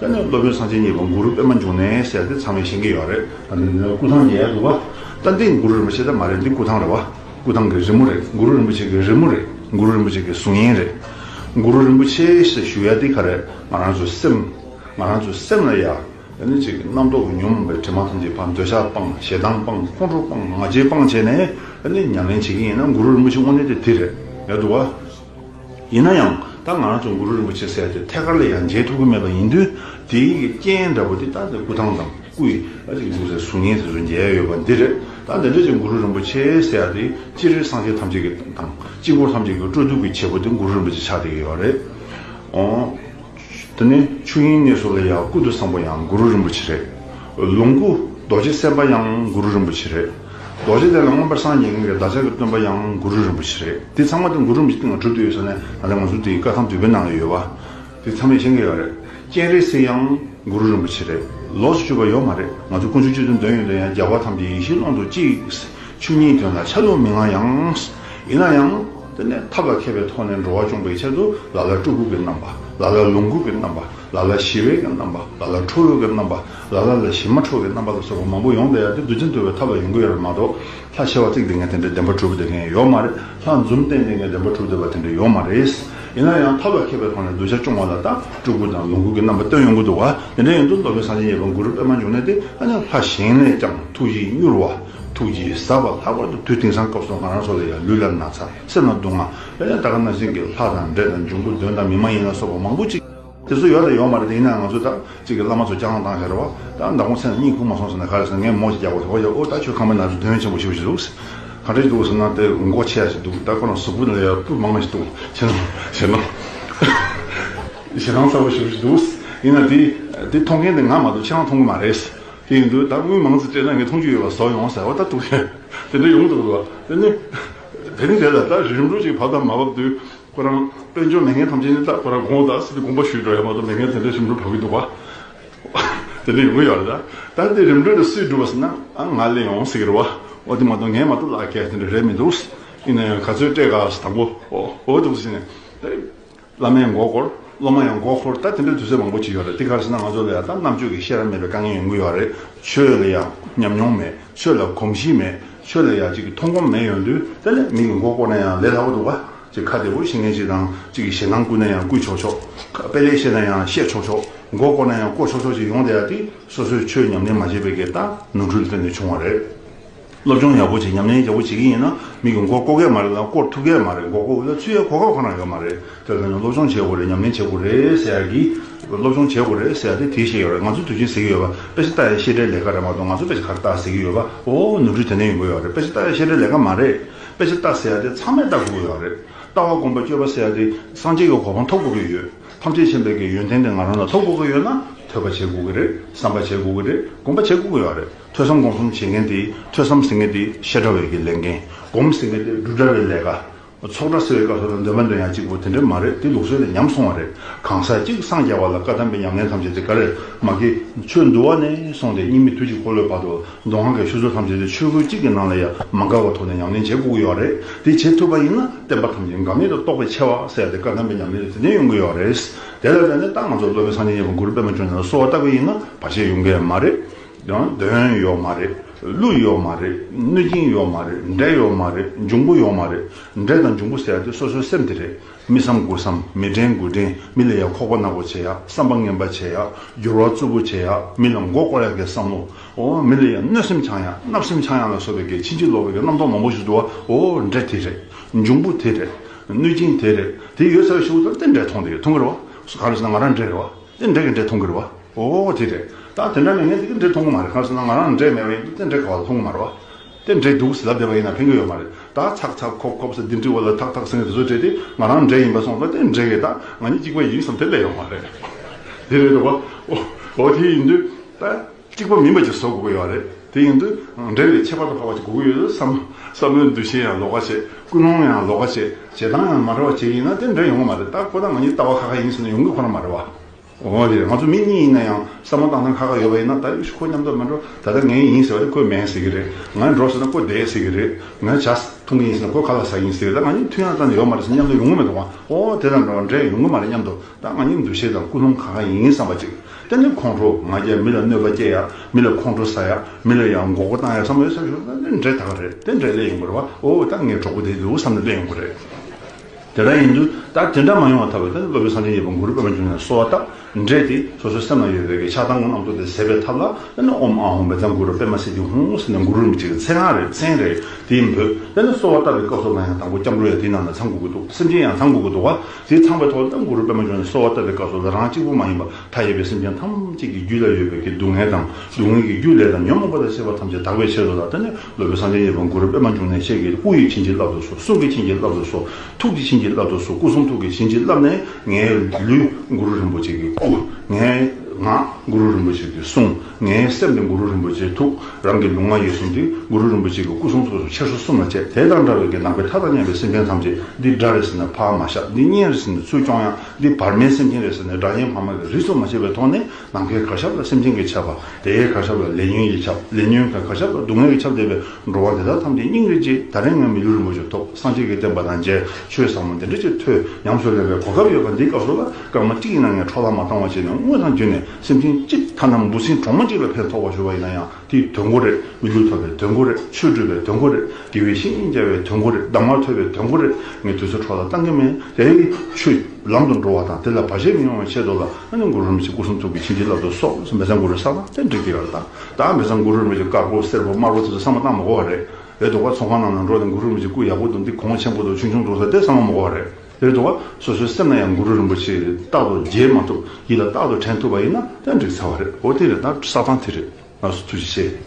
དེ་ནས་སློབ་དཔོན་སངས་རྒྱས་གཉིས་པ་གུ་རུ་པདྨ་འབྱུང་གནས་ཟེར་ཏེ་ཚང་མས་ཤེས་ཀྱི་ཡོད་རེད། སྐུ་ཐང་ཡལ་འདུག་བ། ད་འདི་གུ་རུ་རིན་པོ་ཆེ་ད་མ་རེད་འདི་སྐུ་ཐང་རེད་བ། སྐུ་ཐང་གི་རི་མོ་རེད་གུ་རུ་རིན་པོ་ཆེ་གི་རི་མོ་རེད་གུ་རུ་རིན་པོ་ཆེ་གི་གཟུགས་བརྙན་རེད། གུ་རུ་རིན་པོ་ཆེ་ཞེས་ཞུ་ཡ་འདི་ག་རེད་ང་རང་ཚོའི་སེམས། ང་རང་ཚོའི་སེམས་ལ་ཡ། དེ་ནས་ཅིག་རྣམ་རྟོག་གི་ཉོན་མོངས་པའི་དྲི་མ་ཐམས་ཅད་སྤངས་འདོད་ཆགས་སྤངས་ཞེ་སྡང་སྤངས་ཁོང་ཁྲོ་སྤངས་ང་རྒྱལ་སྤངས་བྱས་ནས་དེ་ནས་ཉམས་ལེན་བྱེད་ཀྱི་ཡིན་ན་གུ་རུ་རིན་པོ་ཆེ་དངོས་གནས་དེ་དེ་རེད་ཡལ་འདུག་བ། ཡིན་ན་ཡང་ད་ང་རང་ཚོ་གུ་རུ་རིན་པོ་ཆེ་སྲས་དེ་ཐད་ཀར་ལ་ཡང་མཇལ་ཐུབ་ཀྱི་མེད་པ་ཡིན་དུས་དེ་ཡི་གི་རྐྱེན་འདྲ་པོ་དེ་ད་ནི་སྐུ་ཐང་དང་སྐུ་ཡི་ཨ་ཅིག་ཅིག་རེ་གཟུགས་བརྙན་དེ་ཚོ་མཇལ་ཡོད་པ་འདི་རེད་ད་འདི་འདྲ་ཅིག་གུ་རུ་རིན་པོ་ཆེ་སྲས་དེ་སྤྱི་རེ་སངས་རྒྱས་ཐམས་ཅད་ཀྱི་དང་སྤྱི་འཁོར་ཐམས་ཅད་ཀྱི་སྤྲོ་བསྡུ་གི་བྱེད་པོ་དེ་གུ་རུ་རིན་པོ་ཆེ་ཕྱག་དེ་ཡོད་རེད་ཨོ། དེ་ནས་ཆོས་དབྱིངས་གནས་སུ་ལ་ཡ་ཀུ་ཏུ་བཟང་པོ་ཡང་གུ་རུ་རིན་པོ་ཆེ་རེད། ལོངས་སྐུ་རྡོ་རྗེ་སེམས་དཔའ་ཡང་གུ་རུ་རིན་པོ་ཆེ་རེད། རྡོ་རྗེ་ལས་ལ་མངོན་པར་སངས་རྒྱས་གླིང་གི་བདག་ཅག་གི་སྟོན་པ་ཡང་གུ་རུ་རིན་པོ་ཆེ་རེད། དེ་ཚང་མ་དེ་གུ་རུ་རིན་པོ་ཆེ་སྟེང་ལ་གྲུབ་ཏུ་ཡོད་ས་ནས་ད་ལྟ་ང་ཚོ་དེའི་བཀའ་ཐང་དུད་པའི་ནང་ལ་ཡོད་པ། དེ་ཚང་མས་མཁྱེན་གི་ཡོད་རེད། སྤྱན་རས་གཟིགས་ཡང་གུ་རུ་རིན་པོ་ཆེ་རེད། ལོགས་སུ་གཅོད་པ་ཡོད་མ་རེད། ང་ཚོ་དཀོན་མཆོག་སྤྱི་དོན་དོན་ཡོད་དོན་ཡང་རྒྱལ་བ་ཐམས་ཅད་ཡེ་ཤེས་ཀློང་དུ་གཅིག། ཆོས་ཉིད་དོན་ལ་ཆ་ལུགས་མི་མངའ་ཡང། ཡིན་ན་ཡང། དེ་ནས་ཐབས་ལ་མཁས་པའི་ཐོག་ནས་འགྲོ་བ་སྐྱོང་པའི་ཆེད་དུ་ལ་ལ་སྤྲུལ་སྐུ་གི་རྣམ་པ། ལ་ལ་ལོངས་སྐུ་གི་རྣམ་པ། ལ་ལ་ཞི་བའི་གི་རྣམ་པ། ལ་ལ་ཁྲོ་བོའི་གི་རྣམ་པ། ལ་ལ་ལ་ཞི་མ་ཁྲོ་བའི་རྣམ་པ་ལ་སོགས་པ་མང་པོ་ཡོངས་བཟླས་ཡར་ཏེ་བདུད་རྩི་འདོད་པའི་ཐབས་ལ་ཡོངས་སྐུ་ཡོད་པ་མ་གཏོགས་ལྷ་བྱེ་བ་གཅིག་དེ་ངས་དེ་འདྲའི་བདེན་པ་གྲུབ་བསྡད་མཁན་ཡོད་མ་རེད་ལྷ་འཛུམ་བསྟན་དེ་ངས་བདེན་པ་གྲུབ་བསྡད་པ་དེ་འདྲ་ཡོད་མ་རེད། ཡིན་ན་ཡང་ཐབས་ལ་མཁས་པའི་ཐོག་ནས་གདུལ་བྱ་སྐྱོང་བ་ལ་ད་སྤྲུལ་སྐུ་དང་ལོངས་སྐུ་གི་རྣམ་པ་སྟོན་ཡོང་གི་འདུག་བ་དེ་འདྲ་ཡིན་དུས་མདོ་སྨད་གསང་ཆེན་ཡེ་བ་གུ་རུ་པདྨ་འབྱུང་གནས་དེ་ཨ་ནི་ལྷ་གཞན་ལས་ཀྱང་ཐུགས་ཡིད་མྱུར་བ། ཐུགས་ཀྱི་བཟའ་བ་ལྷག་པར་དུ་དུས་དེང་སང་སྐབས་སུ་ང་རང་སོགས་ལ་ཡང་ལུས་ལ་ན་ཚ་སེམས་ལ་སྡུག་བསྔལ་ཡང་དག་གི་ན་ཟིན་གྱི་ལྷ་དང་འདྲེ་དང་འབྱུང་པོ་གདོན་དང་མི་མ་ཡིན་ལ་སོགས་པ་མང་པོ་ཅིག་དེ་ཚོ་ཡོད་དང་ཡོད་མ་རེད་དེ་ཡིན་ནའང་ང་ཚོ་དག་ཅིག་གིས་བླ་མ་ཚོ་སྐྱག་ལངས་བཏང་ཤར་བ་དང་མདང་དགོང་ཚེ་ན་གཉིད་ཁུག་མ་སོང་ཟེར་ན་ག་རེ་ཟེར་ངས་མོ་ཞིག་རྒྱག་པར་ཧོ་ཡ་ཨོ་ད་ཁྱོད་ཁ་མི་ན་ཟེར་དོན་ཆེན་པོ་ཞུ་བ་ཞིག་འདུག་ག་རེ་འདུག་ཟེར་ན་དེ་མགོ་ཆེ་ཡ་ཞིག་འདུག་ད་ཁོ་རང་གཟུགས་པོ་ལས་ཡར་སྤུ་མང་བ་ཞིག་འདུག་ཞེ་སྡང་ཞེ་སྡང་ཞེ་སྡང་ཚ་བོ་ཞུ་བ་ཞིག་འདུག་ཡིན་ན་དེ་མཐོང་མཁན་དེ་ང་མ་གཏོགས་ཁྱེད་རང་མཐོང་གི་མ་རེད། དེ་འདུག་ད་དངུལ་མང་ཙིག་སྤྲད་ན་ངས་མཐོང་རྒྱུ་ཡོད་པ་བཟོ་ཡོང་ཟེར་བ་ལྟར་འདུག་ཤེས། དེ་འདྲ་ཡོང་གི་འདུག་ལ། དེ་ནི། དེ་རིང་དེ་ལ་ད་རིམ་གྲོ་ཅིག་བབས་དང་མ་བབས་དུས། ཁོ་རང་དཔལ་འབྱོར་མི་ངན་ཐམས་ཅད་ནི་ད་ཁོ་རང་གོང་ད་སྲིད་དུ་དགོངས་པ་ཞུས་འགྲོ་ཡ་མ་གཏོགས་མི་ངན་དེ་འདྲ་རིམ་གྲོ་བབས་ཀྱི་འདུག་བ། དེ་འདྲ་ཡོང་གི་ཡོད་ལ། ད་དེ་རིམ་གྲོ་དེ་སུས་བསྒྲུབ་པ་ཟེར་ན། ཨ་ང་ལས་ཡོང་ཟེར་གི་རེད་བ། འོ་དེ་མ་གཏོགས་ངས་མ་གཏོགས་ལག་འཁྱེར་དེ་འདྲ་རེད་མི་འདུག། ཡིན་ན་ཡང་ག་ཚོད་སྤྲད་ག་ཟེར་དང་པོ་འོ་འོ་འདུག་ཟེར་ནས། བླ་མའི་མགོ་སྐོར། སློབ་མ་ཡང་མགོ་འཁོར་ད་དེ་འདྲའི་དུས་ཚོད་མང་པོ་བྱེད་ཡོད་རེད་དེ་གར་ཕྱིན་ན་ང་ཚོ་ལ་ཡང་དག་རྣམ་དཔྱོད་ཀྱི་ཤེས་རབ་མེད་པའི་དཀའ་ངལ་ཡང་འགུལ་ཡོད་རེད་ཆོས་ལ་ཡང་ཉམས་མྱོང་མེད་ཆོས་ལ་གོམས་གཤིས་མེད་ཆོས་ལ་ཡང་ཅིག་གི་མཐོང་སྒོམ་མེད་ཡོང་དུས་དེ་ལས་མིང་གི་མགོ་སྐོར་ན་ཡང་ལས་སླ་བོ་འདུག་ག་ཅིག་ཁ་བདེ་བོ་ཤི་ངེས་ཅིག་དང་ཅིག་གི་ཞེད་སྣང་བསྐུལ་ན་ཡང་བསྐུལ་ཆོག་ཆོག་དཔེ་ལེགས་བཤད་ན་ཡང་བཤད་ཆོག་ཆོག་མགོ་སྐོར་ན་ཡང་བསྐོར་ཆོག་ཆོག་ཅིག་ཡོང་བསྡད་ཡ་དེ་སོ་སོས་ཆོས་ཉམས་ལེན་མ་བྱས་པའི་གེ་ད་ནོར་འཁྲུལ་དེ་འདྲ་བྱུང་བ་རེད། སློབ་སྦྱོང་ཡག་པོ་བྱེད་ཉམས་ལེན་ཡག་པོ་བྱེད་ཀྱི་ཡིན་ན་མིག་གི་མགོ་བསྐོར་གས་མ་རེད་ལ་བསྐོར་ཐུབ་གས་མ་རེད་མགོ་བསྐོར་ལ་ཚུད་ཡའི་གོ་སྐབས་གང་ན་ཡོད་མ་རེད་དེར་བརྟེན་ནས་སློབ་སྦྱོང་བྱེད་དགོས་རེད་ཉམས་ལེན་བྱེད་དགོས་རེད་ཟེར་ཡ་གི། སློབ་སྦྱོང་བྱེད་དགོས་རེད་ཟེར་ཡ་དེ་དེའི་ཤེས་ཡོད་རེད་ང་ཚོ་དུས་ཆེན་ཟེར་གྱི་ཡོད་པ་དཔེ་ཆ་ལྟ་ཡའི་ཤེས་བྲལ་ལས་ཀ་རེད་མ་གཏོགས་ང་ཚོ་དཔེ་ཆ་ག་རེ་བལྟ་ཟེར་གྱི་ཡོད་པ་ཨོ་ནུབ་ཕྱོགས་དེ་འདྲ་ཡིན་དགོས་ཡོད་རེད་དཔེ་ཆ་ལྟ་ཡའི་ཤེས་བྲལ་ལས་ཀ་མ་རེད་དཔེ་ཆ་ལྟ་ཟེར་ཡ་དེ་ཚང་མས་ལྟ་དགོས་ཀྱི་ཡོད་རེད་ལྟ་བ་སྒོམ་པ་སྤྱོད་པ་ཟེར་ཡ་དེ་སངས་རྒྱས་ཀྱི་གོ་འཕང་ཐོབ་དགོས་ཀྱི་ཡོད་ཐམས་ཅད་མཁྱེན་པའི་གའི་ཡོན་ཏན་དེ་ང་རང་ལ་ཐོབ་དགོས་ཀྱི་ཡོད་ན་ཐོས་པ་བྱེད་དགོས་ཀྱི་རེད་བསམ་པ་བྱེད་དགོས་ཀྱི་རེད་སྒོམ་པ་བྱེད་དགོས་ཀྱི་ཡོད་རེད། ཐོས་བསམ་སྒོམ་གསུམ་བྱེད་མཁན་དེ་ཐོས་བསམ་ཟེར་མཁན་དེ་བཤད་གྲྭ་བས་ཀྱི་ལས་འགན། སྒོམ་ཟེར་མཁན་དེ་སྒྲུབ་གྲྭ་བའི་ལས་ཀ། ཚོགས་གྲྭ་ཟེར་བའི་སྐབས་སུ་ལ་འདོན་མ་འདོན་ཡང་གཅིག་པོ་དེ་འདྲ་མ་རེད་དེ་ལུགས་སྲོལ་ལས་ཉམས་སོང་བ་རེད་གང་ཟག་གཅིག་སངས་རྒྱ་བ་ལ་བཀའ་གདམས་པའི་ཉམས་ལེན་ཐམས་ཅད་དེ་ག་རེད་མ་དགེ་ཆོས་འདུལ་བ་ནས་སོང་སྟེ་སྙིང་མི་དུས་གཅིག་འཁོར་ལོའི་བར་དུ་མདོ་སྔགས་ཀྱི་ཤུལ་སོགས་ཐམས་ཅད་དེ་ཆོས་སྐུ་གཅིག་གི་ནང་ལ་ཡང་མ་འགག་པ་ཐོག་ནས་ཉམས་ལེན་བྱེད་དགོས་ཀྱི་ཡོད་རེད་དེ་བྱེད་ཐུབ་པ་ཡིན་ན་བསྟན་པ་ཐམས་ཅད་འགག་མེད་དུ་རྟོགས་པའི་ཆེ་བ་གསལ་ཏེ་བཀའ་གདམས་པའི་ཉམས་ལེན་དེ་ནས་ཡོང་གི་ཡོད་རེད་དེ་ལ་བརྟེན་ནས་ཏང་ང་ཚོ་སློབ་དཔོན་སངས་རྒྱས་ཉེ་བར་མགུར་པད་མ་ཁྱོད་ནས་གསོལ་བ་བཏབ་པ་ཡིན་ན་བར་ཆད་ཡོང་གི་མ་རེད། ཡང་གདོན་ཡོད་མ་རེད་ཀླུ་ཡོད་མ་རེད་གནོད་སྦྱིན་ཡོད་མ་རེད་འདྲེ་ཡོད་མ་རེད་འབྱུང་པོ་ཡོད་མ་རེད་འདྲེ་དང་འབྱུང་པོ་ཟེར་དེ་སོ་སོའི་སེམས་དེ་རེད་མི་བསམ་དགུ་བསམ་མི་དྲན་དགུ་དྲན་མི་ལ་ཡ་ཁོག་པ་ནག་པོ་བྱེད་ཡ་བསམ་པ་ངན་པ་བྱེད་ཡ་འགྱུར་བ་རྩུབ་པོ་བྱེད་ཡ་མི་ལ་མགོ་བསྐོར་ཡ་གས་བསམ་མོ་ཨོ་མི་ལ་ཡ་གནོད་སེམས་འཆང་ཡ་བརྣབ་སེམས་འཆང་ཡ་ལ་སོགས་པའི་གས་ཕྱིན་ཅི་ལོག་པའི་གས་རྣམ་རྟོག་མང་པོ་ཞིག་འདུག་བ་ཨོ་འདྲེ་དེ་རེད་འབྱུང་པོ་དེ་རེད་གནོད་སྦྱིན་དེ་རེད་དེ་ཡོད་ཚད་ཤོག་དེ་འདྲས་མཐོང་དེ་མཐོང་གི་རེད་བ་ག་རེ་ཟེར་ན་ང་རང་འདྲེ་རེད་བ། རྩེད་འགྲན་གྱི་འབྲས་མཐོང་གི་རེད་བ། འོ་འོ་དེ་རེད། ད་དེ་འདྲ་ནས་ངས་འདི་གི་འབྲས་མཐོང་གི་མ་རེད་གང་ཟེར་ན་ང་རང་འབྲས་མེད་བ་ཡིན་འདུག་རྩེད་འགྲན་ག་བ་ལ་མཐོང་གི་མ་རེད་བ། རྩེད་འགྲན་འདུག་ཟེར་ལབ་བསྡད་པ་ཡིན་ན་ཕན་གི་ཡོད་མ་རེད་ད། ཚག་ཚག་ཁོག་ཁོག་བསད་འདི་འདྲི་བ་ལ་ཐག་ཐག་སེང་གེ་དེ་ཚོ་བྲེད་དེ་ང་རང་འབྲས་ཡིན་པ་སོང་ད་རྩེད་འགྲན་གྱི་ད་ང་གཉིས་གཅིག་པ་ཡིན་བསམ་དེ་ལས་ཡོང་མ་རེད། དེ་རེད་བ། འོ་འོ་དེ་ཡིན་དུས་ད། གཅིག་པ་མིན་པ་ཅིག་བཟོ་དགོས་ཀྱི་ཡོད་རེད། དེ་ཡིན་དུས་འབྲེལ་བའི་ཁྱད་པར་དུ་འཕགས་པ་ཅིག་དགོས་ཀྱི་ཡོད་དུས་སམ། བསམ་བློའི་འདུ་ཤེས་ཡང་ལོགས་ཀ་བྱེད། ཀུན་སློང་ཡང་ལོགས་ཀ་བྱེད། བྱེད་སྟངས་ཡང་མ་རེད་བ་བྱེད་ཀྱི་ཡིན་ན་དེ་འབྲེལ་ཡོང་གི་མ་རེད་ད་ཁོ་ཐག་ང་གཉིས་ལྟ་བ་ཁ་ཁ་ཡིན་ཟེར་ན་ཡོང་གི་ཁོ་ན་མ་རེད་བ། འོ་རེད་ང་ཚོ་མི་གཉིས་ཡིན་ན་ཡང་བསམ་བློ་བཏང་སྟངས་ཁ་ཁ་ཡོད་པ་ཡིན་ན་ད་ཡོད་ཤི་ཁོ་མཉམ་དུ་མི་འགྲོ་ད་ལྟ་ངས་ཡིན་ཟེར་བ་དེ་ཁོས་མེད་ཟེར་གྱི་རེད་ངས་འགྲོ་ཟེར་ན་ཁོས་བསྡད་ཟེར་གྱི་རེད་ངས་བྱ་ཐུབ་ངེས་ཡིན་ཟེར་ན་ཁོས་ག་ལ་ཟ་ཡིན་ཟེར་གྱི་རེད་ད་ང་གཉིས་མཐུན་ཡང་ཙམ་ཡོད་མ་རེད་ཟེར་ན་མཉམ་དུ་ཡོང་གི་མེད་འདུག་བ་འོ་དེ་ལྟར་འགྲོ་བ་འབྲེལ་ཡོང་གི་མ་རེད་མཉམ་དུ། ད་ང་གཉིས་འདུ་ཤེས་དང་ཀུན་སློང་ག་ག་ཡིན་བསམ་པ་ཅིག་དེ་ནི་ཁོང་ཁྲོ་ང་རྒྱལ་མི་ལ་གནོད་པ་སྐྱེལ་ཡག་མི་ལ་ཁོང་ཁྲོ་ཟ་ཡག་མི་ལ་ཡང་འགོག་པ་བཏང་ཡག་བསམ་བློའི་སེམས་ཤུགས་དེ་འདྲས་ད་ག་རེད་དེ་འདྲས་ལས་ཡོང་གི་རེད་བ་འོ་ད་ངའི་གྲོགས་པོ་དེ་འདུག་བསམ་ནས་སླེབས་ཡོང་གི་རེད། དེ་འདྲ་ཡིན་དུས་ད་དེ་འདྲ་མ་ཡོང་བ་ཐ་བས་དེ་ནི་སློབ་དཔོན་གསང་ཆེན་ཡེ་པོ་གུ་རུས་པདྨ་འབྱུང་གནས་གསོལ་བ་དང་འབྲེལ་ཏེ་སོ་སོའི་སེམས་ན་ཡོད་པའི་གི་ཕྱག་དང་ངོ་གནམ་ཐུགས་ཏེ་ཟད་པའི་ཐབས་ལ་དེ་ནི་ཨོམ་ཨ་ཧོམ་བས་ཙང་གུ་རུ་པདྨ་སེ་ཏི་ཧོང་ཧོང་ཟེར་ནས་གུ་རུ་མི་གཅིག་གི་མཚན་སྔགས་རེ་མཚན་རེ་དེ་འབོད་དེ་ནི་གསོལ་བ་བཏབ་པའི་སྐབས་སོགས་ལ་ཡང་དང་པོ་སྐྱབས་འགྲོ་ཡང་དེའི་ནང་ན་ཚང་དགོས་ཀྱི་འདུག་སེམས་ཅན་ཡང་ཚང་དགོས་ཀྱི་འདུག་བ་དེ་ཚངས་པའི་ཐོག་རྣམས་གུ་རུ་པདྨ་འབྱུང་གནས་གསོལ་བ་བཏབ་པའི་སྐབས་སུ་རང་གཅིག་པུ་མ་ཡིན་པར་མཐའ་ཡས་པའི་སེམས་ཅན་ཐམས་ཅད་ཀྱི་རྒྱུད་ལ་ཡོད་པའི་ཀྱི་སྡུག་བསྔལ་དང་སྡུག་བསྔལ་གྱི་རྒྱུ་ལས་དང་ཉོན་མོངས་པ་དང་བཅས་པ་ཐམས་ཅད་དག་པའི་ཕྱིར་རོ་ལ་ལྟ་ནས་སློབ་དཔོན་སངས་རྒྱས་གཉིས་པོ་གུ་རུ་པདྨ་འབྱུང་གནས་ཆེ་གེ་སྐུ་ཡི་བྱིན་གྱིས་བརླབས་ཏུ་གསོལ་གསུང་གི་བྱིན་གྱིས་བརླབས་ཏུ་གསོལ་ཐུགས་ཀྱི་བྱིན་གྱིས་བརླབས་ཏུ་གསོལ་སྐུ་གསུང་ཐུགས་ཀྱི་བྱིན་གྱིས་བརླབས་ནས་ངའི་ལུས་གུ་རུ་རིན་པོ་ཆེ་གི་སྐུ། ངའི་ངག་གུ་རུ་རིན་པོ་ཆེ་གི་གསུང། ངའི་སེམས་ནི་གུ་རུ་རིན་པོ་ཆེའི་ཐུགས་རང་གི་ལུང་ང་ཡོད་གསུངས་ཏེ་གུ་རུ་རིན་པོ་ཆེ་གི་སྐུ་གསུང་ཐུགས་སུ་ཆེར་སོ་གསུམ་ལ་བཅས་དེ་དང་འདྲ་བའི་གྱི་ནང་པའི་མཐའ་དང་མཉམ་པའི་སེམས་ཅན་ཐམས་ཅད་འདི་དགྲ་རེ་ཟེར་ནས་ཕ་མ་ཞབས་འདི་གཉེན་རེ་ཟེར་ནས་ཚུལ་སྐྱོང་ཡང་འདི་བར་མའི་སེམས་ཅན་རེ་ཟེར་ནས་དགྲ་གཉེན་ཕ་མ་གི་རིས་སུ་མ་ཆད་པའི་ཐོག་ནས་ནམ་མཁའི་གར་ཞབས་ལ་སེམས་ཅན་གྱི་ཆབ་པ་དེའི་གར་ཞབས་ལ་ལས་ཉོན་གྱི་ཆབ་ལས་ཉོན་གྱི་གར་ཞབས་ལ་སྡུག་བསྔལ་གྱི་ཆབ་འདས་པའི་འགྲོ་བ་འདི་དག་ཐམས་ཅད་སྙིང་རེ་རྗེ་ད་རེས་ངའི་མི་ལུས་རིན་པོ་ཆེ་ཐོབ་སངས་རྒྱས་ཀྱི་བསྟན་པ་དང་མཇལ་ཆོས་ཟབ་མོ་འདི་འདྲ་ཅིག་ཐོས་ཉམས་སུ་ལེན་པའི་གོ་སྐབས་ཡོད་པ་འདི་སྐབས་སུ་ལ་སྐར་མ་གཅིག་ཡིན་ན་ངས་འཕྲོག་ལ་མ་བཏང་བ་བྱས་ནས་དངུལ་དང་རྒྱུ་ནས་སེམས་ཅན་གཅིག་ཐ་ན་འབུ་སྲིན་གྲོག་མ་གཅིག་ལ་ཕན་ཐོགས་པར་གྱུར་པ་ཡིན་ན་ཡང་དེའི་དོན་གོ་རེ། མི་ལུས་ཐོབ་པའི་དོན་གོ་རེ། ཆོས་སྒྲུབ་པའི་དོན་གོ་རེ། དགེ་བའི་བཤེས་གཉེན་བསྐྱལ་བའི་དོན་གོ་རེ། གདམས་ངག་ཐོས་པའི་དོན་གོ་རེ། ངས་དུས་ཚོད་འཕྲོག་ལ་བཏང་གི་མེད་དེ། ཆུ། ལམ་དུ་འགྲོ་བ་དང་དེ་ལ་བར་ཆད་མི་ཡོང་བའི་ཆེད་དུ་ལ་ཨ་ནི་འགུ་རུར་མི་ཚེ་སྐུ་གསུང་ཐུགས་ཀྱི་བྱིན་གྱིས་བརླབས་ཏུ་སོགས་མེ་བཟང་འགུ་རུའི་ས་བོན་ཏན་ཏིག་འདི་ལྟར་བཏང། ད་མེ་བཟང་འགུ་རུར་མི་ཚེ་དཀར་པོ་སེར་པོ་དམར་པོ་དེ་ཚོ་ས་མ་བཏང་མ་གོ་བ་རེད། འདོད་པ་ཚོང་ཁང་རྣམས་ལ་འགྲོ་ནས་འགུ་རུར་མི་ཚེ་སྐུ་ཡག་པོ་དུ་འདི་གོང་ཆེན་པོ་དུ་ཆུང་ཆུང་འགྲོ་ས་དེ་ས་མ་མ་གོ་བ་རེད། དེར་འགྲོ་བ་སོ་སོའི་སེམས་ལ་ཡང་གུ་རུ་རིན་པོ་ཆེས་རྟག་ཏུ་མཇལ་མ་ཐུབ་ཡིད་ལ་རྟག་ཏུ་དྲན་ཐུབ་པ་ཡིན་ན་ཡང་འགྲིག་ཚར་བ་རེད་འོ་དེ་རེད་ད་ས་སྟངས་དེ་རེད་ང་ཚོས་ཐུགས་རྗེ་ཆེ།